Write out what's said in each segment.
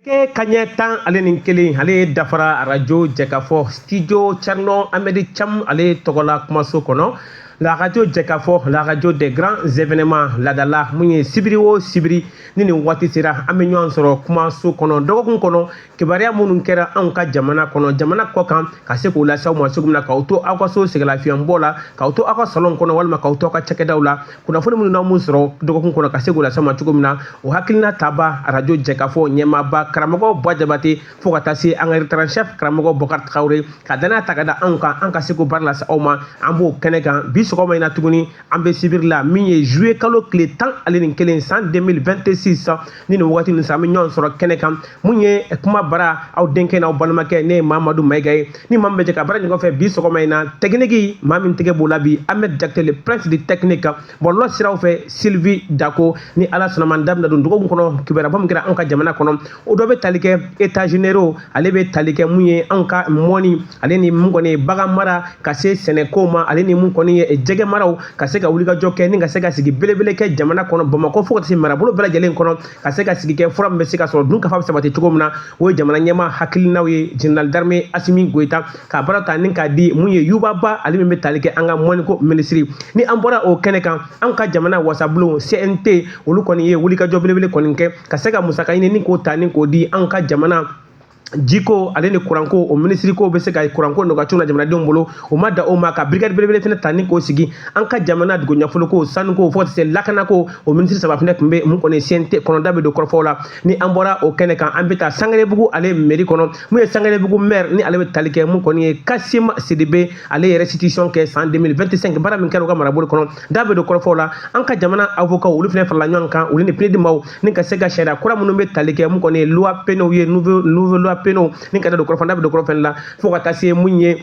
Ke kaɲɛ tan ale ni kelen ale dafara arajo jɛkafɔ studio cɛrnɔ amɛdi cam ale tɔgɔla kumaso kɔnɔ la radio jɛkafɔ la radio des grands événements ladala mun ye sibiri o sibiri ni nin waati sera an bɛ ɲɔgɔn sɔrɔ kumaso kɔnɔ dɔgɔkun kɔnɔ kibaruya minnu kɛra anw ka jamana kɔnɔ jamana kɔ kan ka se k'o lase aw ma cogo min na k'aw to aw ka so sɛgɛlafiɲɛbɔ la k'aw to aw ka salon kɔnɔ walima k'aw to aw ka cakɛdaw la kunnafoni minnu n'aw m'u sɔrɔ dɔgɔkun kɔnɔ ka se k'o lase aw ma cogo min na o hakilina tabaa arajo jɛkafɔ ɲɛmaaba karamɔgɔ bwa jabate fo ka taa se an ka rédacteur en chef karamɔgɔ bɔkari traoré ka dannaya ta ka da anw kan an ka se k'o baara lase aw ma an b'o kɛnɛ kan bi sɔgɔma in na tuguni an bɛ sibiri la min ye juye kalo tile tan ale nin kelen san 2026 ni nin wagati nin sa an bɛ ɲɔgɔn sɔrɔ kɛnɛ kan mun ye kuma bara aw denkɛ n'aw balimakɛ ne ye mamadu mayiga ye ni maa min bɛ jɛ ka baara ɲɔgɔn fɛ bi sɔgɔma in na tɛkiniki maa min tɛgɛ b'o la bi ahmɛd jakite le prince de technique kan bɔlɔlɔ siraw fɛ sylvie dako ni ala sɔnn'a ma da bɛna don dɔgɔkun kɔnɔ kibaruya min kɛra anw ka jamana kɔnɔ o dɔ bɛ tali kɛ états généraux ale bɛ tali kɛ mun ye anw ka mɔni ale ni mun kɔni ye bagan mara ka se sɛnɛkow ma ale ni mun kɔni ye jɛgɛ maraw ka se ka wulikajɔ kɛ ni ka se ka sigi belebele kɛ jamana kɔnɔ bamakɔ fo ka se marabolo bɛɛ lajɛlen kɔnɔ ka se ka sigi kɛ fura min bɛ se ka sɔrɔ dunkafa bɛ sabati cogo min na o ye jamana ɲɛmaa hakilinaw ye général d'armée asimi goyita ka baara ta ni k'a di mun ye yuba ba ale min bɛ tali kɛ an ka mɔniko minisiri ni an bɔra o kɛnɛ kan an ka jamana wasabulon cnt olu kɔni ye wulikajɔ belebele kɔni kɛ ka se ka musaka ɲini ni k'o ta ni k'o di an ka jamana jiko ale ni kuranko o minisiri k'o bɛ se ka kuranko nɔgɔya cogo la jamanadenw bolo o ma dan o ma ka birikadi belebele fana ta ni k'o sigi an ka jamana dugu nafoloko sanuko fo ka se lakanako o minisiri saba fana tun bɛ mun kɔni CNT kɔnɔ da bɛ don kɔrɔfɔw la ni an bɔra o kɛnɛ kan an bɛ taa sangarebugu ale meri kɔnɔ mun ye sangarebugu maire ni ale bɛ tali kɛ mun kɔni ye kasim sidibe ale ye restitution kɛ san 2025 baara min kɛra u ka marabolo kɔnɔ da bɛ don kɔrɔfɔw la an ka jamana avocat olu fana farala ɲɔgɔn kan olu ni PNUD ni ka se ka sariya kura minnu bɛ tali kɛ mun kɔni ye loi pénaux ye nouveau nouveau loi pénaux ni ka da don kɔrɔfɔ da bɛ don kɔrɔfɔ la fo ka taa se mun ye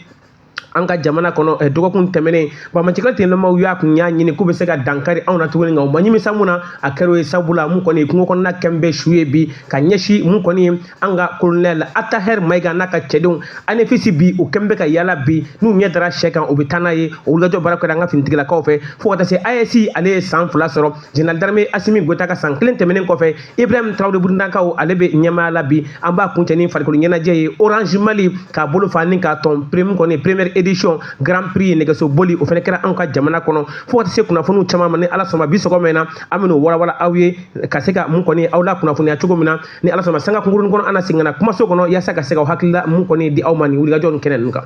an ka jamana kɔnɔ eh, dɔgɔkun tɛmɛnen banbaancikɛ tenlamaw y'a kun y'a ɲini k'u bɛ se ka dankari anw na tuguni nka u ma ɲimisa mun na a kɛr'o ye sabula mun kɔni kungo kɔnɔna kɛm bɛ su ye bi ka ɲɛsin mun kɔni ye an ka kolonɛl atahɛr mayiga n'a ka cɛdenw anefisi bi u kɛm bɛ ka yaala bi n'u ɲɛ dara sɛ kan u bɛ taa n'a ye o wulikajɔ baara kɛra an ka finitigilakaw fɛ fo ka taa se AES ale ye san fila sɔrɔ Général d'armée Assimi Goïta ka san kelen tɛmɛnen kɔfɛ Ibrahim Traoré Burukinakaw ale bɛ ɲɛmaaya la bi an b'a kuncɛ ni farikolo ɲɛnajɛ ye Orange Mali k'a bolo fa ni k'a tɔn mun kɔni première édition Grand Prix nɛgɛso boli o fana kɛra anw ka jamana kɔnɔ fo ka taa se kunnafoniw caman ma ni Ala sɔnna bi sɔgɔma in na an bɛn'o walawala aw ye ka se ka mun kɔni aw lakunnafoniya cogo min na ni Ala sɔnna sanga kunkurunin kɔnɔ an na segin ka na kumaso kɔnɔ yaasa ka se ka hakilila mun kɔni di aw ma nin wulikajɔ nin kɛnɛ ninnu kan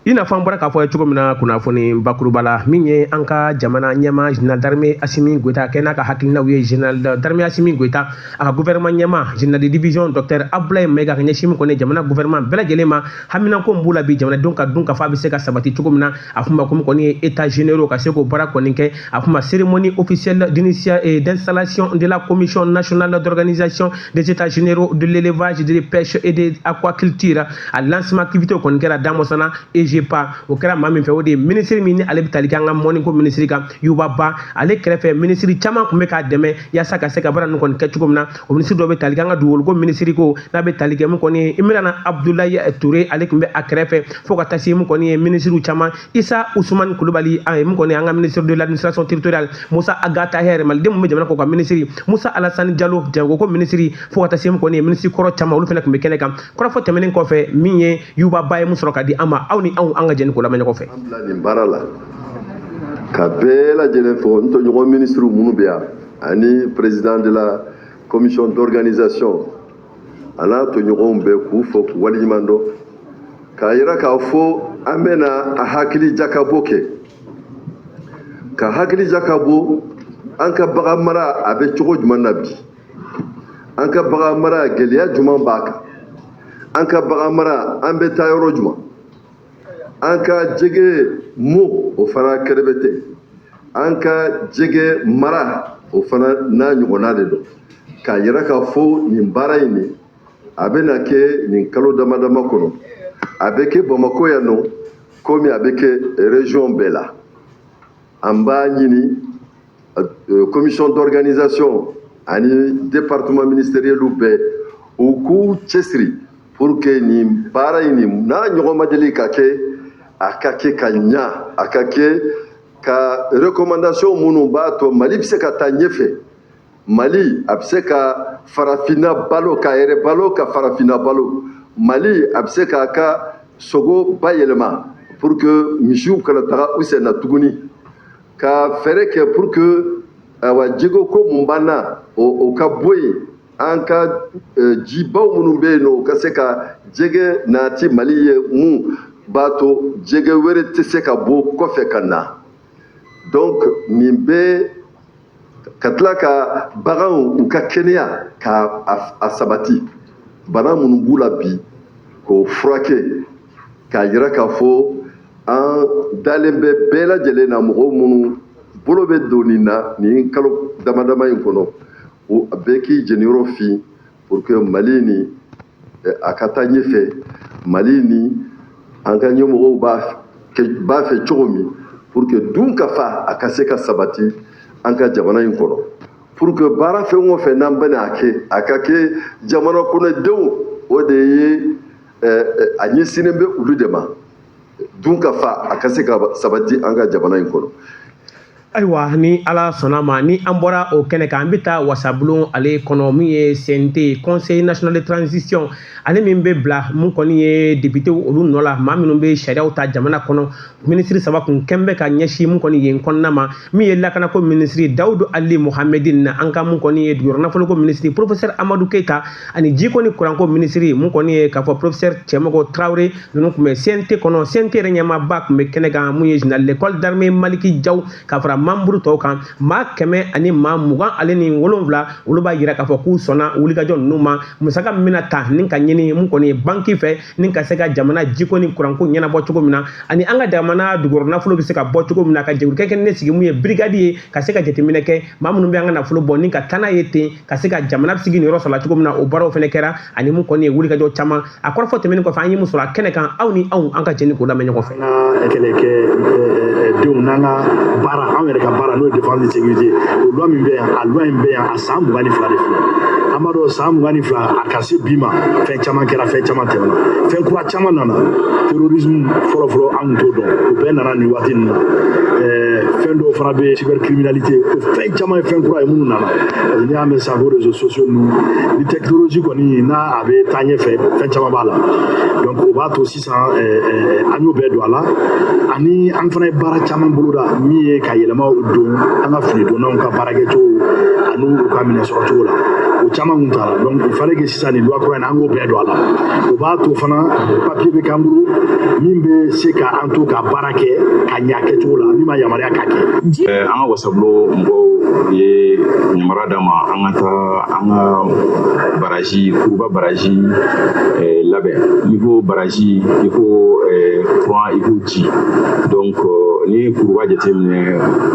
i n'a fɔ an bɔra k'a fɔ ye cogo min na kunnafoni bakuruba la min ye an ka jamana ɲɛmaa général d'armée asimi goyita kɛ n'a ka hakilinaw ye général d'armée asimi goyita a ka gouvernement ɲɛmaa général de division docteur abulaye mayiga ka ɲɛsin kɔni jamana gouvernement bɛɛ lajɛlen ma haminako min b'u la bi jamanadenw ka dunkafa bɛ se ka sabati cogo min na a kun ma ko min kɔni ye états généraux ka se k'o baara kɔni kɛ a kun ma cérémonie officielle d'installation de la commission nationale d'organisation des états généraux de l'élevage de la pêche et de aquaculture a lancement activité o kɔni kɛra damɔsana egepa o kɛra maa min fɛ o de ye minisiri min ni ale bɛ tali kɛ an ka mɔnniko minisiri kan yuba ba ale kɛrɛfɛ minisiri caman tun bɛ k'a dɛmɛ yaasa ka se ka baara ninnu kɔni kɛ cogo min na o minisiri dɔ bɛ tali kɛ an ka dugukoloko minisiri ko n'a bɛ tali kɛ min kɔni ye imrana abudulayi ture ale tun bɛ a kɛrɛfɛ fo ka taa se min kɔni ye minisiriw caman Isa Ousmane Kulubali a ye min kɔni an ka ministre de l'administration territoriale Musa Ag Attaher malidenw min bɛ jamana kɔkan minisiri Musa Alassane Diallo jagoko minisiri fo ka taa se min kɔni ye minisiri kɔrɔ caman olu fana tun bɛ kɛnɛ kan kɔrɔfɔ tɛmɛnen kɔfɛ min ye Yuba Ba ye min sɔrɔ ka di an ma aw ni anw an ka jɛn k'o lamɛn ɲɔgɔn fɛ. nin baara la ka bɛɛ lajɛlen fo n tɔɲɔgɔn minisiriw minnu bɛ yan ani président de la commission d'organisation a n'a tɔɲɔgɔnw bɛɛ k'u fo k'u waleɲuman dɔn k'a yira k'a fɔ an bɛna a hakili jakabɔ kɛ ka hakili jakabɔ an ka bagan mara a bɛ cogo jumɛn na bi an ka bagan mara gɛlɛya jumɛn b'a kan an ka bagan mara an bɛ taa yɔrɔ jumɛn an ka jɛgɛ mɔn o fana kɛrɛbɛtɛ an ka jɛgɛ mara o fana n'a ɲɔgɔnna de don k'a yira k'a fɔ nin baara in nin a bɛna kɛ nin kalo dama dama kɔnɔ a bɛ kɛ bamakɔ yan nɔ komi a bɛ kɛ région bɛɛ la an b'a ɲini commission d'organisation ani département ministériel bɛɛ u k'u cɛsiri pour que nin baara in nin n'a ɲɔgɔn ma deli ka kɛ a ka kɛ ka ɲa a ka kɛ ka recommandation minnu b'a to mali bɛ se ka taa ɲɛfɛ mali a bɛ se ka farafinna balo k'a yɛrɛ balo ka farafinna balo mali a bɛ se k'a ka sogo bayɛlɛma pour que misiw kana taga u sen na tuguni ka feere kɛ pour que awa jɛgɛ ko mun b'an na o ka bɔ yen an ka jibaw minnu bɛ yen nɔ u ka se ka jɛgɛ nati mali ye min b'a to jɛgɛ wɛrɛ tɛ se ka bɔ kɔfɛ ka na donc nin bɛɛ ka tila ka baganw u ka kɛnɛya k'a sabati bana minnu b'u la bi k'o furakɛ k'a jira k'a fɔ an dalen bɛ bɛɛ lajɛlen na mɔgɔw minnu bolo bɛ don nin na nin kalo damadama in kɔnɔ ko a bɛɛ k'i jeniyɔrɔ fin pour que mali ni a ka taa ɲɛfɛ mali ni an ka ɲɛmɔgɔw b'a fɛ cogo min pour que dunkafa a ka se ka sabati an ka jamana in kɔnɔ pour que baara fɛn o fɛn n'an bɛna a kɛ a ka kɛ jamana kɔnɔdenw o de ye a ɲɛsinnen bɛ olu de ma dunkafa a ka se ka sabati an ka jamana in kɔnɔ ayiwa ni ala sɔnna ma ni an bɔra o kɛnɛ kan an bɛ taa wasabulon ale kɔnɔ min ye cnt conseil national de transition ale min bɛ bila mun kɔni ye depitew olu nɔ la maa minnu bɛ sariyaw ta jamana kɔnɔ minisiri saba kun kɛn bɛ ka ɲɛsin mun kɔni yen kɔnɔna ma min ye lakanako minisiri dawudu ali mohamɛdin n'an ka mun kɔni ye dugujukɔrɔ nafoloko minisiri professeur amadu keyita ani jiko ni kuranko minisiri mun kɔni ye k'a fɔ professeur cɛmɔgɔ tarawele ninnu tun bɛ cnt kɔnɔ cnt yɛrɛ ɲɛmaaba tun bɛ kɛnɛ kan mun ye général de corps d'armée maliki jaw ka fara manburu tɔw kan maa kɛmɛ ani maa mugan ale ni wolonwula olu b'a jira k'a fɔ k'u sɔnna wulikajɔ ninnu ma musaka min bɛna ta ni ka ɲini mun kɔni ye banki fɛ ni ka se ka jamana jiko ni kuranko ɲɛnabɔ cogo min na ani an ka jamana dugukɔrɔ nafolo bɛ se ka bɔ cogo min na ka jɛkulu kɛrɛnkɛrɛnnen sigi mun ye brigade ye ka se ka jateminɛ kɛ maa minnu bɛ an ka nafolo bɔ ni ka taa n'a ye ten ka se ka jamana bɛ se k'i niyɔrɔ sɔrɔ a la cogo min na o baaraw fana kɛra ani mun kɔni ye wulikajɔ caman a kɔrɔfɔ tɛmɛnen kɔfɛ an ye mun sɔrɔ a kɛnɛ kan aw ni anw an ka jɛ ni k'o lamɛn ɲɔgɔn fɛ an ka kɛlɛkɛdenw n'an ka baara anw yɛrɛ ka baara n'o ye défense de sécurité o loi min bɛ yan a loi in bɛ yan a san mugan ni fila de filɛ an b'a dɔn san mugan ni fila a ka se bi ma fɛn caman kɛra fɛn caman tɛmɛna fɛn kura caman nana terrorisme fɔlɔfɔlɔ an tun t'o dɔn o bɛɛ nana nin waati nin na fɛn dɔw fana bɛ cybercriminalité o fɛn caman ye fɛn kura ye minnu nana parce que n'i y'a mɛn sisan ko réseaux sociaux ninnu ni technologie kɔni n'a a bɛ taa ɲɛfɛ fɛn caman b'a la donc o b'a to sisan an y'o bɛɛ don a la ani an fana ye baara caman boloda min ye ka yɛlɛmaw don an ka finidonnaw ka baarakɛcogo ani u ka minɛn sɔrɔcogo la o caman kun t'a la donc il fallait que sisan nin loi kura in an k'o bɛɛ don a la o b'a to fana papiye bɛ k'an bolo min bɛ se ka an to ka baara kɛ ka ɲɛ kɛcogo la min b'an yamaruya k'a kɛ an ka wasabulon mɔgɔw ye yamaruya d'an ma an ka taa an ka baraji kuruba baraji labɛn n'i ko baraji i ko kuran i ko ji donc n'i ye kuruba jateminɛ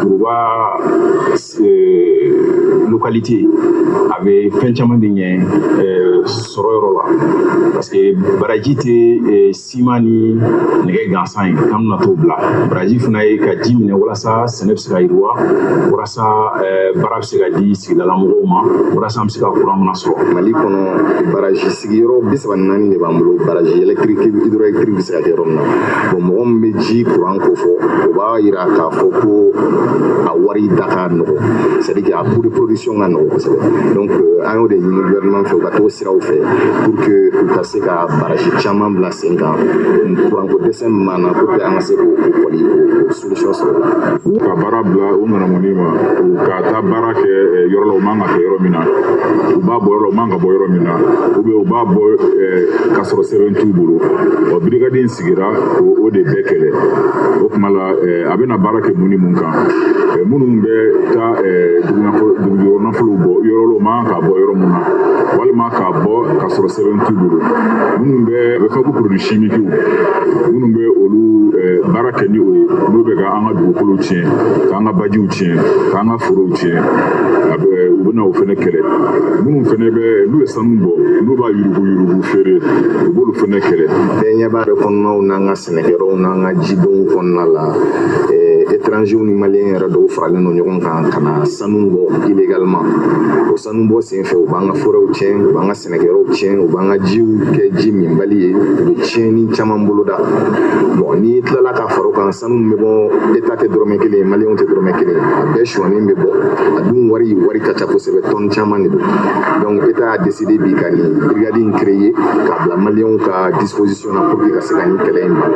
kuruba localité a bɛ fɛn caman de ɲɛ sɔrɔ yɔrɔ la parce que baraji tɛ siman ni nɛgɛ gansan ye k'an bɛna t'o bila baraji fana ye ka ji minɛ walasa sɛnɛ bɛ se ka yiriwa walasa baara bɛ se ka di sigidala mɔgɔw ma walasa an bɛ se ka kuran fana sɔrɔ mali kɔnɔ baraji sigiyɔrɔ bi saba ni naani de b'an bolo baraji électrique hydroélectrique bɛ se ka kɛ yɔrɔ min na bon mɔgɔ min bɛ ji kuran ko fɔ o b'a jira ka fɔ ko a wari da ka nɔgɔ c'est à dire a coût de production ka nɔgɔ kosɛbɛ donc euh, an y'o de ɲini gouvernement fɛ u ka t'o siraw fɛ pour que u ka se ka barasi caman bila sen kan kuranko dɛsɛ min b'an na pour que an ka se k'o kɔni o solution sɔrɔ u ka baara bila u ŋanamuni ma u ka taa baara kɛ euh, yɔrɔ la u man ka kɛ yɔrɔ min na u b'a bɔ yɔrɔ la u man ka bɔ yɔrɔ min na ou bien u b'a bɔ euh, k'a sɔrɔ sɛbɛn t'u bolo ɔ brigade in sigira o de bɛɛ kɛlɛ o tuma la a bɛna baara kɛ mun ni mun kan minnu bɛ taa dugujukɔrɔ nafolow bɔ yɔrɔ u man ka bɔ yɔrɔ min na walima k'a bɔ ka sɔrɔ sɛbɛn t'u bolo minnu bɛ a bɛ fɔ ko produits chimiques minnu bɛ olu baara kɛ ni o ye n'o bɛ ka an ka dugukolo tiɲɛ k'an ka bajiw tiɲɛ k'an ka forow tiɲɛ a bɛ u bɛna o fana kɛlɛ minnu fana bɛ n'u ye sanu bɔ n'u b'a yuruguyurugu feere u b'olu fɛnɛ kɛlɛ bɛɛ ɲɛ b'a bɛ kɔnɔnaw n'an ka sɛnɛkɛyɔrɔw n'an ka jidenw kɔnɔna la étrangers ni maliyɛn yɛrɛ dɔw faralen don ɲɔgɔn kan ka na sanu bɔ illégalement o sanu bɔ sen fɛ u b'an ka forɛw tiɲɛ u b'an ka sɛnɛkɛyɔrɔw tiɲɛ u b'an ka jiw kɛ ji minbali ye u bɛ tiɲɛni caman boloda bon n'i tilala ka fara o kan sanu min bɛ bɔ eta tɛ dɔrɔmɛ kelen ye maliyɛnw tɛ dɔrɔmɛ kelen ye a bɛɛ suɲɛnen bɛ bɔ a dun wari wari ka ca kosɛbɛ tɔn caman de don donc eta y'a deside bi ka nin brigade in créer k'a bila maliyɛnw ka disposition na pour que ka se ka nin kɛlɛ in ban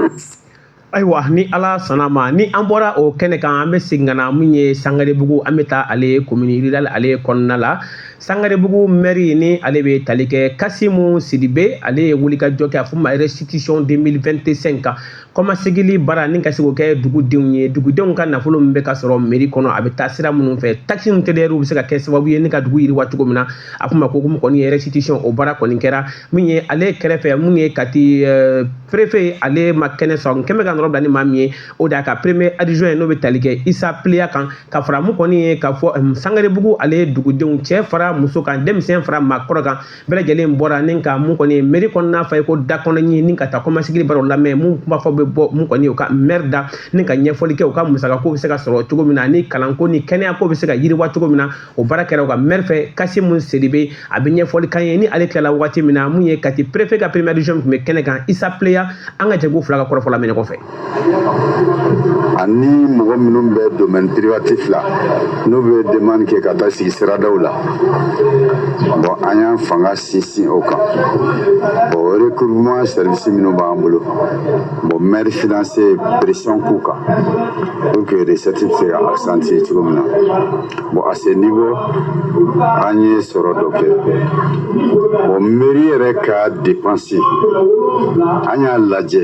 ayiwa ni ala sɔnna ma ni an bɔra o kɛnɛ kan an bɛ segin ka na min ye sangarebugu an bɛ taa ale ye commune rurale ale ye kɔnɔna la sangarebugu mɛri ni ale bɛ tali kɛ kasimu sidibe ale ye wulikajɔ kɛ a fɔ ma restitution 2025 kan kɔmasegili baara ni ka se k'o kɛ dugudenw ye dugudenw ka nafolo min bɛ ka sɔrɔ meri kɔnɔ a bɛ taa sira minnu fɛ takisi min tɛdɛriw bɛ se ka kɛ sababu ye ni ka dugu yiriwa cogo min na a fɔ ma ko mun kɔni ye restitution o baara kɔni kɛra min ye ale kɛrɛfɛ mun ye kati eh, perefe ale ma kɛnɛ sɔrɔ kɛmɛ ka nɔrɔ bila ni maa min ye o de y'a ka premier adjoint ye n'o bɛ tali kɛ isa pleya kan ka fara mun kɔni ye k'a fɔ eh, sangarebugu ale dugudenw cɛ fara muso kan denmisɛn fara maakɔrɔ kan bɛɛ lajɛlen bɔra ni ka mun kɔni ye meri kɔnɔna fa i ko da kɔnɔ ɲin ni ka taa kɔmasegili baara lamɛn mun kuma fɔ bɛ bɔ mun kɔni u ka mɛri da ni ka ɲɛfɔli kɛ u ka musaka ko bɛ se ka sɔrɔ cogo min na ni kalanko ni kɛnɛya ko bɛ se ka yiriwa cogo min na o baara kɛra u ka mɛri fɛ kasimu sidibe a bɛ ɲɛfɔli k'an ye ni ale tilala waati min na mun ye kati perefe ka premier adjoint tun bɛ kɛnɛ kan isa pleya an ka jɛ k'u fila ka kɔrɔfɔ lamɛn ɲɔgɔn fɛ ani mɔgɔ minnu bɛ domaine privatif la n'u bɛ demande kɛ ka taa sigi siradaw la bon an y'an fanga sinsin o kan bon recouvrement service minnu b'an bolo bon maire finance ye pression k'u kan pour que recette bɛ se ka accentuer cogo min na bon à ce niveau an ye sɔrɔ dɔ kɛ bon mairie yɛrɛ ka dépense an y'a lajɛ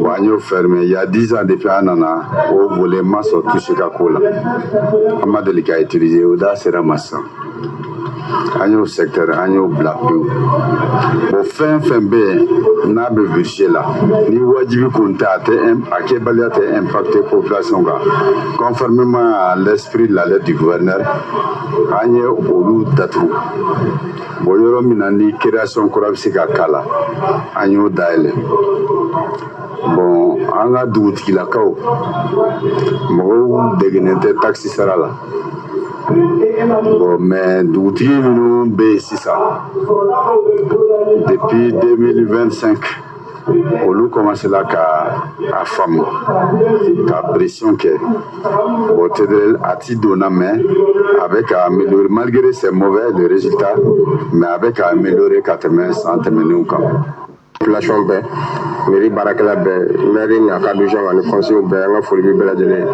Bon an y'o fermé il y a 10 ans depuis an nana o volet ma sɔn touché ka ko la an ma deli ka utiliser o da sera ma sisan an y'o secteur an y'o bila pewu bon fɛn fɛn bɛ yen n'a bɛ budget la ni wajibi kun tɛ a kɛbaliya tɛ impacter population kan conformément à l'esprit de la lettre du gouverneur an ye olu datugu bon yɔrɔ min na ni création kura bɛ se ka k'a la an y'o dayɛlɛ bon an ka dugutigilakaw mɔgɔw degenen tɛ taxe sara la bon mais dugutigi minnu bɛ yen sisan depuis 2025 olu kɔmansela ka a faamu ka pression kɛ o TDRL a ti donna mais a bɛ ka améliorer malgré c'est mauvais le résultat mais a bɛ ka améliorer ka tɛmɛ san tɛmɛnenw kan population bɛɛ mairie baarakɛla bɛɛ maire n'a ka adjoint ani conseil bɛɛ an ka foli bɛ bɛɛ lajɛlen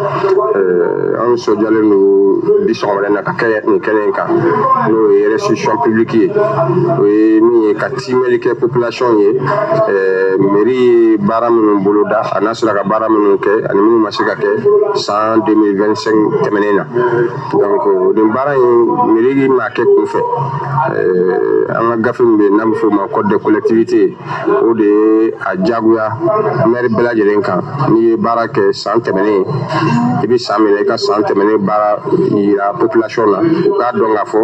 eh, an nisɔndiyalen don bi sɔgɔmada na ka kɛ nin kɛnɛ in kan n'o ye restitution publique ye o ye min ye ka simɛli kɛ population ye eh, mairie ye baara minnu boloda a n'a sera ka baara minnu kɛ ani minnu ma se ka kɛ san 2025 tɛmɛnen na donc nin baara in mairie m'a kɛ kunfɛ eh, an ka gafe min bɛ yen n'a bɛ f'o ma code de collectivité o de ye a diyagoya maire bɛɛ lajɛlen kan n'i ye baara kɛ san tɛmɛnen i bɛ san min na i ka san tɛmɛnen baara yira population na u k'a dɔn k'a fɔ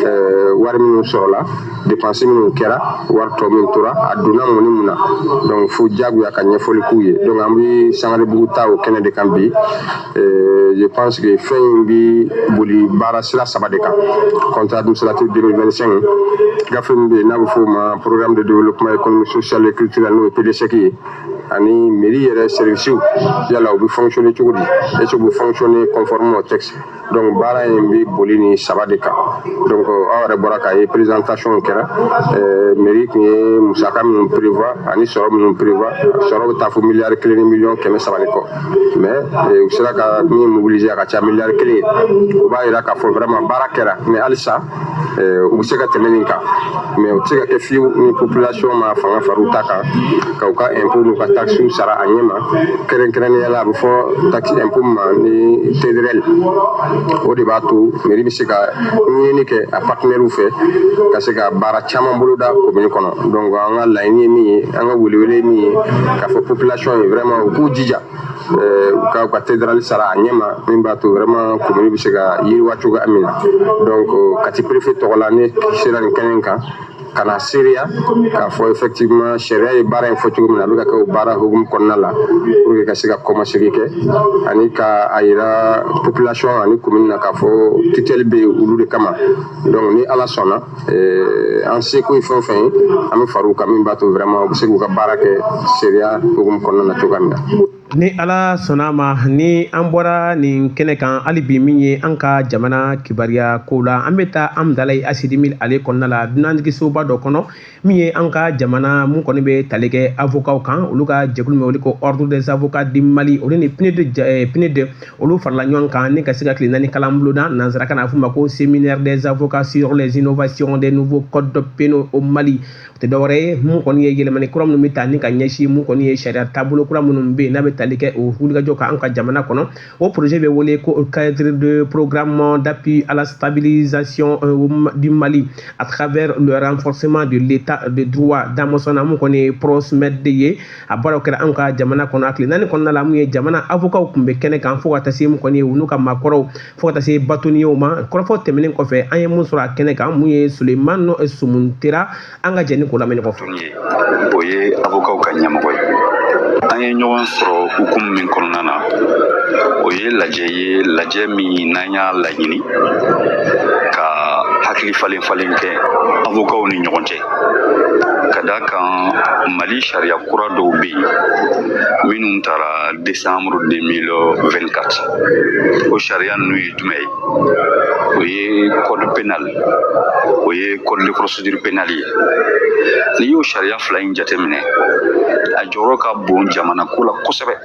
eh, wari minnu sɔrɔla dépense minnu kɛra wari tɔ min tora a donna mun ni mun na donc fo jagoya ka ɲɛfɔli k'u ye donc an bɛ Sangarebugu ta o kɛnɛ de kan bi euh, je pense que fɛn in bɛ boli baara sira saba de kan compte administratif 2025 gafe min bɛ yen n'a bɛ f'o ma programme de développement économique social et culturel n'o ye PDESC ye ani mairie yɛrɛ services yala u bɛ fonctionner cogo di est-ce que u bɛ fonctionner conformément au texte donc baara in bɛ boli nin saba de kan donc aw yɛrɛ bɔra k'a ye présentation kɛra euh, mairie tun ye musaka minnu prévoir ani sɔrɔ minnu prévoir sɔrɔ bɛ taa fo miliyari kelen ni miliyɔn kɛmɛ saba de kɔ mais euh, u sera ka min mobiliser a ka ca miliyari kelen ye o b'a jira k'a fɔ vraiment baara kɛra mais halisa u bɛ se ka tɛmɛ nin kan mais u tɛ se ka kɛ fiyewu ni population ma fanga fara u ta kan ka u ka impôt n'u ka taxes sara a ɲɛ ma kɛrɛnkɛrɛnnenya la a bɛ fɔ taxe impôt ma ni TDRL o de b'a to mairie bɛ se ka ɲinini kɛ a partenaires fɛ ka se ka baara caman boloda commune kɔnɔ donc an ka laɲini ye min ye an ka welewele ye min ye k'a fɔ population ye vraiment u k'u jija u ka u ka TDRL sara a ɲɛma min b'a to vraiment komini bɛ se ka yiriwa cogoya min na donc kati perefe tɔgɔ la ne sera nin kɛnɛ kan ka na seereya k'a fɔ effectivement sariya ye baara in fɔ cogo min na a bɛ ka kɛ o baara hukumu kɔnɔna la pour que ka se ka kɔmasegin kɛ ani ka a yira population ani komini na k'a fɔ tutɛli bɛ olu de kama donc ni ala sɔnna Eh, an seko ye fɛn o fɛn ye an bɛ far'u kan min b'a to vraiment u bɛ se k'u ka baara kɛ sariya hukumu kɔnɔna na cogoya min na ni ala sɔnna ma ni an bɔra nin kɛnɛ kan hali bi min ye an ka jamana kibaruya kow la an bɛ taa amdalayi ACI 2000 ale kɔnɔna la dunanjigisoba dɔ kɔnɔ min ye an ka jamana mun kɔni bɛ tali kɛ avokaw kan olu ka jɛkulu min wele ko ordre des avocats du mali olu ni PNUD PNUD olu farala ɲɔgɔn kan ni ka se ka tile naani kalan boloda nansarakan na a f'o ma ko séminaire des avocats sur les innovations des nouveaux codes pénaux au Mali o tɛ dɔwɛrɛ ye mun kɔni ye yɛlɛmani kura minnu bɛ ta ni ka ɲɛsin mun kɔni ye sariya taabolo kura minnu bɛ yen n'a bɛ tali kɛ o wulikajɔ kan an ka jamana kɔnɔ o projet bɛ wele ko cadre de programme d'appui à la stabilisation euh, du Mali à travers le renforcement de l'état de droit damasurun na mun kɔni ye PROSMED de ye a baaraw kɛra an ka jamana kɔnɔ a tile naani kɔnɔna la mun ye jamana avokaw tun bɛ kɛnɛ kan fo ka taa se mun kɔni ye u n'u ka maakɔrɔw fo ka taa se batoniyew ma kɔrɔfɔ tɛmɛnen kɔfɛ an ye mun sɔrɔ a kɛnɛ kan mun ye sulemani sumuntera an ka jɛ ni k'o lamɛn ɲɔgɔn fɛ o ye avokaw ka ɲɛmɔgɔ ye an ye ɲɔgɔn sɔrɔ hukumu min kɔnɔna na o ye lajɛ ye lajɛ min n'an y'a laɲini ka hakili falen falen kɛ avokaw ni ɲɔgɔn cɛ ka d'a kan mali sariya kura dɔw bɛ yen minnu taara desanburu 2024 o sariya ninnu ye jumɛn ye o ye code pénal o ye code de procédure pénale ye n'i y'o sariya fila in jateminɛ a jɔyɔrɔ ka bon jamana ko la kosɛbɛ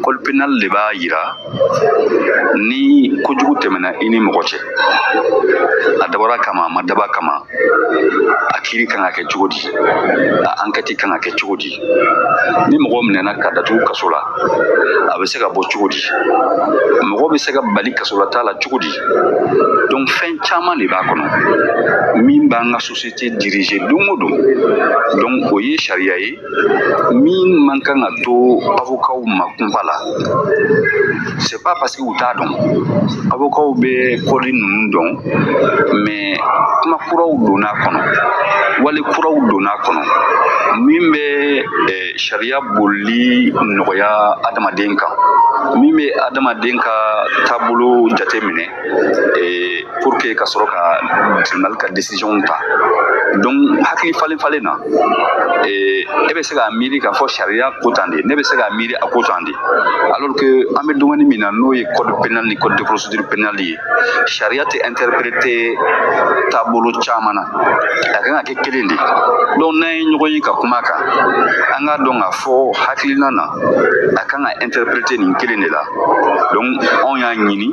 code pénal de b'a yira ni kojugu tɛmɛna i ni mɔgɔ cɛ a dabɔra a kama a ma dabɔ a kama a kiiri kan ka kɛ cogo di a ankɛti kan ka kɛ cogo di ni mɔgɔ minɛna ka datugu kaso la a bɛ se ka bɔ cogo di mɔgɔ bɛ se ka bali kasolataa la cogo di donc fɛn caman de b'a kɔnɔ min b'an ka sosiyete dirize don o don donc o ye sariya ye min man kan ka to avokaw ma kunpa la c'est pas parce que u t'a dɔn avokaw bɛ code ninnu dɔn mais kuma kuraw donna a kɔnɔ wali kuraw donna a kɔnɔ min bɛ eh, sariya bolili nɔgɔya adamaden kan min bɛ adamaden ka taabolo jateminɛ ee pour que ka sɔrɔ ka tribunal ka décision ta donc hakili falen falen na ee e bɛ se k'a miiri k'a fɔ sariya ko tan de ne bɛ se k'a miiri a ko tan de alors que an bɛ domaine min na n'o ye code pénal ni code de procédure pénale ye sariya tɛ interpréter taabolo caman na a kan ka kɛ kelen de donc n'an ye ɲɔgɔn ye ka kuma kan an k'a dɔn k'a fɔ hakilina na a kan ka interpréter nin kelen de la donc anw y'a ɲini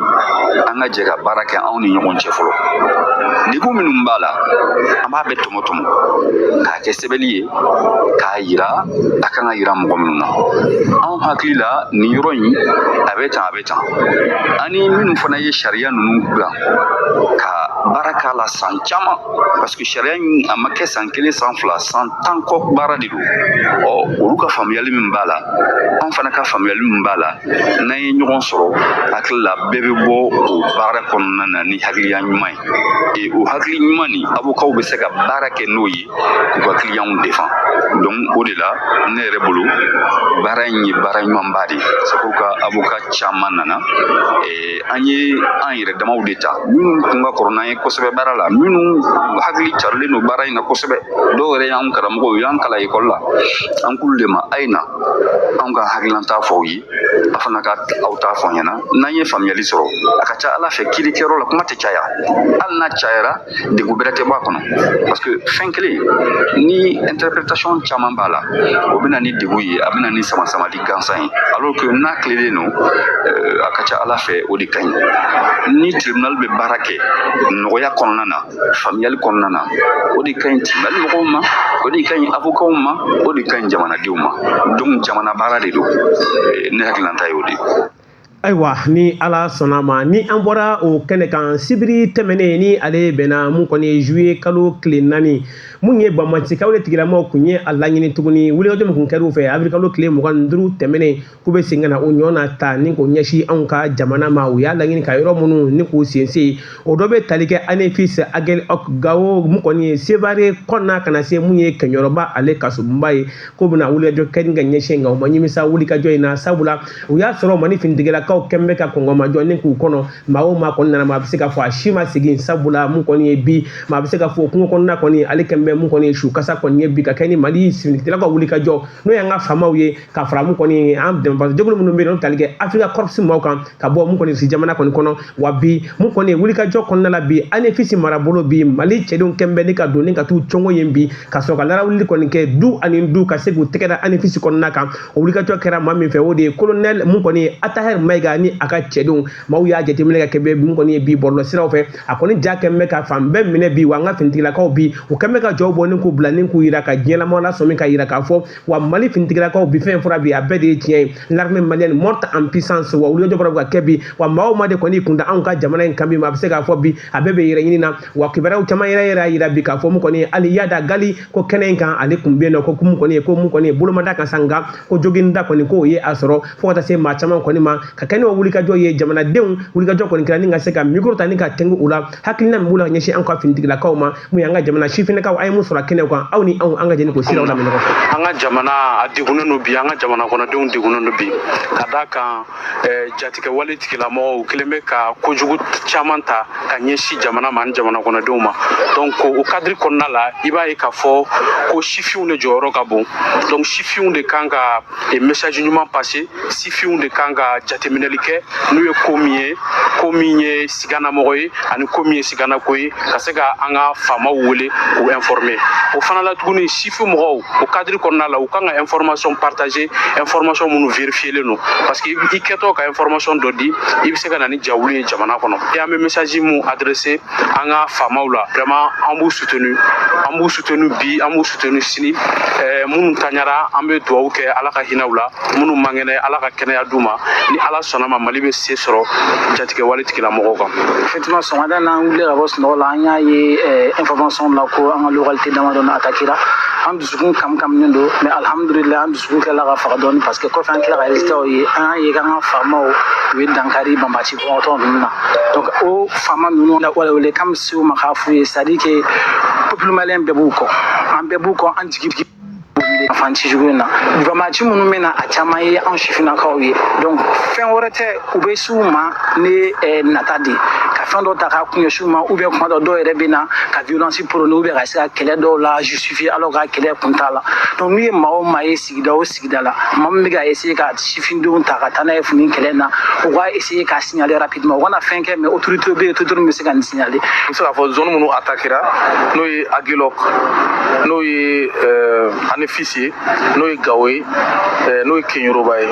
an ka jɛ ka baara kɛ anw ni ɲɔgɔn cɛ fɔlɔ degun minnu b'a la an b'a bɛɛ tɔmɔ tɔmɔ k'a kɛ sɛbɛnni ye k'a yira a kan ka yira mɔgɔ minnu na anw hakili la nin yɔrɔ in a bɛ tan a bɛ tan ani minnu fana ye sariya ninnu dilan ka baara k'a la san caman parce que sariya in a ma kɛ san kelen san fila san tan kɔ baara de don ɔ olu ka faamuyali min b'a la an fana ka faamuyali min b'a la n'an ye ɲɔgɔn sɔrɔ hakili la bɛɛ bɛ bɔ o baara kɔnɔna na ni hakiliya ɲuman ye e o hakili ɲuman ni avocatw bɛ se ka baara kɛ n'o ye k'u ka clientw défend donc o de la ne yɛrɛ bolo baara in ye baara ɲumanba de ye c'est pourquoi avocat caman nana e, an ye an yɛrɛ damaw de ta minnu tun ka kɔrɔ n'an ye kosɛbɛ baara la minnu hakili carilen don baara in na kosɛbɛ dɔw yɛrɛ y'an karamɔgɔw u y'an kalan ekɔli la an k'olu de ma a ye na anw ka hakililanta fɔ aw ye a fana ka aw ta fɔ an ɲɛna n'an ye faamuyali sɔrɔ a ka ca a la fɛ kiirikɛyɔrɔ la kuma tɛ caya hali n'a cayara degun bɛrɛ tɛ bɔ a kɔnɔ parce que fɛn kelen ni interprétation caman b'a la o bɛ na ni degun ye a bɛ na ni samasamali gansan ye alors que n'a tilelen don euh, a ka ca a la fɛ o de ka ɲi ni tribunal bɛ baara kɛ nɔgɔya kɔnɔna na faamuyali kɔnɔna na o de ka ɲi tribunal mɔgɔw ma o de ka ɲi avocatw ma o de ka ɲi jamanadenw ma donc jamana baara de don ne hakililanta y'o de ye ayiwa ni ala sɔnna ma ni an bɔra o kɛnɛ kan sibiri tɛmɛnen ni ale bɛnna mun kɔni ye juillet kalo tile naani mun ye banbaancikaw de tigilamaw kun ye a laɲini tuguni wulikajɔ min kun kɛr'u fɛ avril kalo tile mugan ni duuru tɛmɛnen k'u bɛ segin ka na o ɲɔgɔn na ta ni k'o ɲɛsin anw ka jamana ma u y'a laɲini ka yɔrɔ minnu ni k'u sense o dɔ bɛ tali kɛ anefis agɛlɔk gawo mun kɔni ye sevare kɔnɔna ka na se mun ye kɛɲɔrɔba ale kasobonba ye k'u bɛna wulikajɔ kɛ ni ka ɲɛsin nka u ma ɲimisa wulikajɔ in na sabula u y'a sɔrɔ mali finitigilakaw kɛlen bɛ ka kɔngɔmajɔ ni k'u kɔnɔ maa o maa kɔni nana maa bɛ se ka fɔ a si ma segin sabula mun kɔni ye bi maa bɛ se ka fɔ kungo kɔnɔna kɔni ale kɛlen bɛ mun kɔni ye su kasa kɔni ye bi ka kɛ ni mali finitigilakaw ka wulikajɔ n'o y'an ka famaw ye ka fara mun kɔni an dɛmɛbagajɛkulu minnu bɛ yen n'o tali kɛ africa corps maaw kan ka bɔ mun kɔni si jamana kɔni kɔnɔ wa bi mun kɔni ye wulikajɔ kɔnɔna la bi anefisi marabolo bi mali cɛdenw kɛlen bɛ ni ka don ni ka t'u cɔngo yen bi ka sɔrɔ ka larawuli kɔni kɛ du ani du ka se k'u tɛgɛ da anefisi kɔnɔna kan o wulikajɔ kɛra maa min fɛ o de ye kolonɛl mun kɔni ye atahɛr mayiga ni a ka cɛdenw maaw y'a jateminɛ ka kɛ mun kɔni ye bi bɔlɔlɔ siraw fɛ a kɔni ja kɛlen bɛ ka fan bɛɛ minɛ bi wa an ka finitigilakaw bi u kɛlen ka jaw bɔ ni k'u bila ni k'u yira ka diɲɛlamɔgɔ lasɔmi ka yira k'a fɔ wa mali finitigilakaw bi fɛn fɔra bi a bɛɛ de ye tiɲɛ ye l'armée malienne monte en puissance wa wulikajɔ bɔra ka kɛ bi wa maa o maa de kɔni kun da anw ka jamana in kan bi maa bɛ se k'a fɔ bi a bɛɛ bɛ yɛrɛɲini na wa kibaruyaw caman yɛrɛ yɛrɛ y'a yira bi k'a fɔ mun kɔni hali iyad ag gali ko kɛnɛ in kan ale tun bɛ yen nɔ ko mun kɔni ye ko mun kɔni ye bolo ma d'a kan sa nka ko joginda kɔni k'o ye a sɔrɔ fo ka taa se maa caman kɔni ma ka kɛ n'o wulikajɔ ye jamanadenw wulikajɔ kɔni kɛra ni ka se ka mikoro ta ni ka tɛngu u la hakilina min b'u la ka ɲɛsin an ka finitigilakaw ma mun y'an ka jamana sifinnakaw an ye mun sɔrɔ kɛnɛw kan aw ni anw an ka jɛ ni k'o siraw lamɛn ɲɔgɔn fɛ an ka jamana a degunnen don bi an ka jamana kɔnɔdenw degunnen don bi ka d'a kan eh, jatigɛwale tigilamɔgɔw u kɛlen bɛ ka kojugu caman ta ka ɲɛsin jamana ma ani jamana kɔnɔdenw ma donc o cadre kɔnɔna la i b'a ye k'a fɔ ko sifinw de jɔyɔrɔ ka bon donc sifinw de kan ka e message ɲuman passer sifinw de kan ka jateminɛli kɛ n'u ye ko min ye ko min ye siganamɔgɔ ye ani ko min ye siganako ye ka se ka an ka faamaw wele k'u informer o fana la tuguni sifin mɔgɔw o cadre kɔnɔna la u kan ka information partager information minnu vérifielen don parce que i kɛtɔ ka information dɔ di i bɛ se ka na ni jawuli ye jamana kɔnɔ et an bɛ message mun adresser an ka faamaw la vraiment an b'u soutenu an b'u soutenu bi an b'u soutenu sini eh, minnu taɲara an bɛ dugawu kɛ ala ka hinɛ u la minnu man kɛnɛ ala ka kɛnɛya d'u ma ni ala sɔnna ma mali bɛ se sɔrɔ jatigɛwale tigilamɔgɔw kan effectivement sɔgɔmada na an wulila ka bɔ sunɔgɔ la an y'a ye eh, information la ko an ka localité damadɔ na attaquera an dusukun kam kaminen don mais alhamdulillah an dusukun tilala ka faga dɔɔni parce que kɔfɛ an tila ka résultatw ye an y'a ye k'an ka faamaw u ye dankari banbaaci kɔngɔtɔ ninnu na donc o faama ninnu na wale wele kan se u ma k'a f'u ye c'est-à-dire que peuple bɛɛ b'u kɔ an bɛɛ b'u kɔ an jigi fan ci cogo in na banbaaci minnu bɛ na a caman ye anw sifinnakaw ye donc fɛn wɛrɛ tɛ u bɛ s'u ma ni eh, nata de ka fɛn dɔ ta k'a kun ɲɛsin u ma ou bien kuma dɔ dɔw yɛrɛ bɛ na ka violence prôner ou bien ka se ka kɛlɛ dɔw la justifier alors que kɛlɛ kun t'a la donc n'u ye maa o maa ye sigida o sigida la maa min bɛ ka essayer ka sifindenw ta ka taa n'a ye fini kɛlɛ in na u k'a essayer ka signaler rapidement u kana fɛn kɛ mais autorité bɛ yen autorité min bɛ se ka nin signaler n bɛ se k'a fɔ zone minnu attaquera n'o ye agilok n'o ye eh, anefis ye n'o ye gawo ye eh, n'o ye keɲeroba ye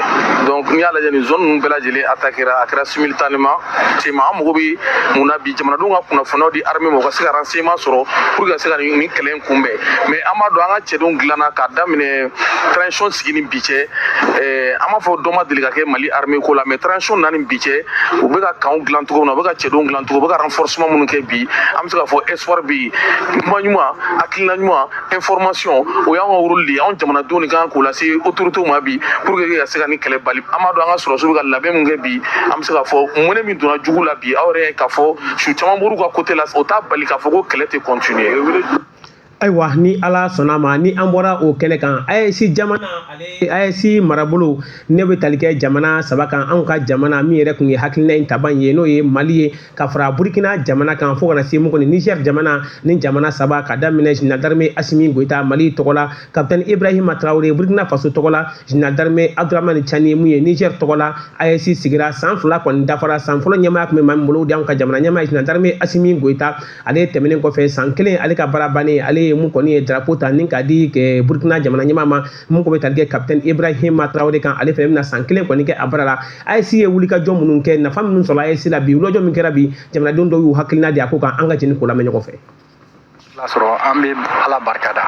donc n'i y'a lajɛ nin zone ninnu bɛɛ lajɛlen attaquera a kɛra simultanément tuma an mago bɛ mun na bi jamanadenw ka kunnafoniyaw di armée ma u ka se ka renseignement sɔrɔ pour que ka se ka nin nin kɛlɛ in kunbɛn mais an b'a dɔn an ka cɛdenw dilanna k'a daminɛ transition sigi ni bi cɛ eh, an m'a fɔ dɔ ma deli ka kɛ mali armée ko la mais transition na ni bi cɛ u bɛ ka kanw dilan cogo min na u bɛ ka cɛdenw dilan cogo u bɛ ka renforcement minnu kɛ bi an bɛ se k'a fɔ espoir bɛ yen kuma ɲuman hakilina ɲuman information o y'an ka rôle de ye anw jamanadenw de kan k'o lase autorités ma bi pour que ka se ka nin kɛlɛ bali an b'a dɔn an ka sɔrɔsiw bɛ ka labɛn min kɛ bi an bɛ se k'a fɔ mɔnɛ min donna jugu la bi aw yɛrɛ k'a fɔ su caman b'olu ka côté la o t'a bali k'a fɔ ko kɛlɛ tɛ continuer ayiwa ni ala sɔnna ma ni an bɔra o kɛnɛ kan AES jamana AES marabolo ne bɛ tali kɛ jamana saba kan anw ka jamana min yɛrɛ kun ye hakilina in tabaa ye n'o ye mali ye ka fara burkina jamana kan fo ka na se mun kɔni niger jamana ni jamana saba k'a daminɛ général d'armée asimi goyita mali tɔgɔ la kapitɛni ibrahima tarawele burkina faso tɔgɔ la jina darime abdramani cani mun ye niger tɔgɔ la AES sigira san fila kɔni dafara san fɔlɔ ɲɛmaaya kun bɛ maa min bolo o de y'an ka jamana ɲɛmaa général d'armée asimi goyita ale tɛmɛnen kɔfɛ san kelen ale ka baara bannen ale ye mun kɔni ye drapeau ta ni k'a di burkina jamana ɲɛmaa ma mun ko bɛ tali kɛ kapitɛni ibrahima tarawele kan ale fɛnɛ bɛna san kelen kɔni kɛ a baara la AES ye wulikajɔ minnu kɛ nafa minnu sɔrɔ AES la bi wulikajɔ min kɛra bi jamanadenw dɔw y'u hakilina di a ko kan an ka jɛ ni k'o lamɛn ɲɔgɔn fɛ la sɔrɔ an bɛ ala barika da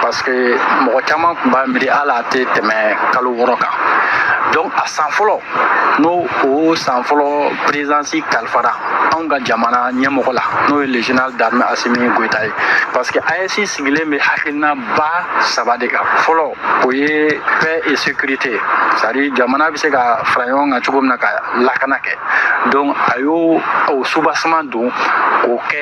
parce que mɔgɔ caman tun b'a miiri ala tɛ tɛmɛ kalo wɔɔrɔ kan donc a san fɔlɔ n'o o san fɔlɔ présidence kalifara anw ka jamana ɲɛmɔgɔ la n'o ye le général d'armée asimi goyita ye parce que AES sigilen bɛ hakilina ba saba de kan fɔlɔ o ye paix et sécurité c'est-à-dire jamana bɛ se ka fara ɲɔgɔn kan cogo min na ka lakana kɛ donc a y'o o soubassement don k'o kɛ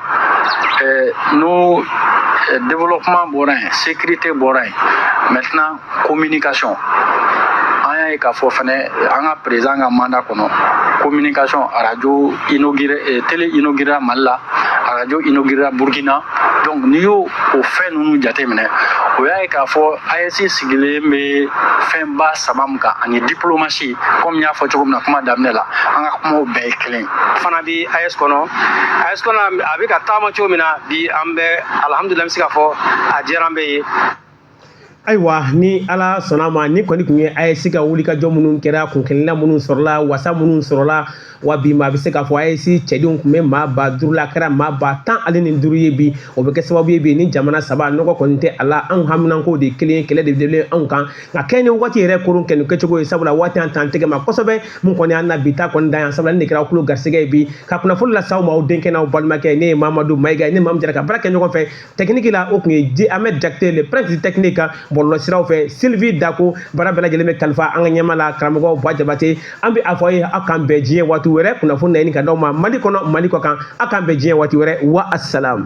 Euh, n'o euh, développement bɔra yen sécurité bɔra yen maintenant communication an y'a ye k'a fɔ fɛnɛ an ka président ka mandat kɔnɔ communication arajo inauguré euh, télé inauguréra mali la arajo inauguréra burkina donc n'i y'o o fɛn ninnu jateminɛ o y'a ye k'a fɔ AES sigilen bɛ fɛnba saba min kan ani diplomasi komi n y'a fɔ cogo min na kuma daminɛ la an ka kumaw bɛɛ ye kelen fana bi AES kɔnɔ AES kɔnɔ a bɛ ka taama cogo min na bi an bɛ alihamudulila n bɛ se k'a fɔ a diyara an bɛɛ ye. ayiwa ni ala sɔnna ma ni kɔni kun ye AES ka wulikajɔ minnu kɛra kunkelenna minnu sɔrɔla wasa minnu sɔrɔla wa bi maa bɛ se k'a fɔ AES cɛdenw kun bɛ maa ba duuru la a kɛra maa ba tan ale ni duuru ye bi o bɛ kɛ sababu ye bi ni jamana saba nɔgɔ kɔni tɛ a la anw haminanko de ye kelen ye kɛlɛ de bɛ anw kan nka kɛ ni waati yɛrɛ koron kɛ nin kɛcogo ye sabula waati an t'an tɛgɛ ma kosɛbɛ mun kɔni an na bi ta kɔni dan yan sabula ne kɛra kulo garisɛgɛ ye bi ka kunnafoni las'aw ma aw denkɛ n'aw balimakɛ ne ye mamadu mayiga ne ni maa mun jɛra ka baara kɛ ɲɔgɔn fɛ tɛkiniki la o kun ye ahmed jakite le prince tɛkiniki kan bɔlɔlɔ siraw fɛ silvi dako baara bɛɛ lajɛlen bɛ kalifa an ka ɲɛmaa la karamɔgɔ ba jabate an bɛ a fɔ ye aw k'an bɛn diɲɛ waati wɛrɛ kunnafoni na ɲini ka d'aw ma mali kɔnɔ mali kɔkan aw k'an bɛn diɲɛ waati wɛrɛ wa asalamu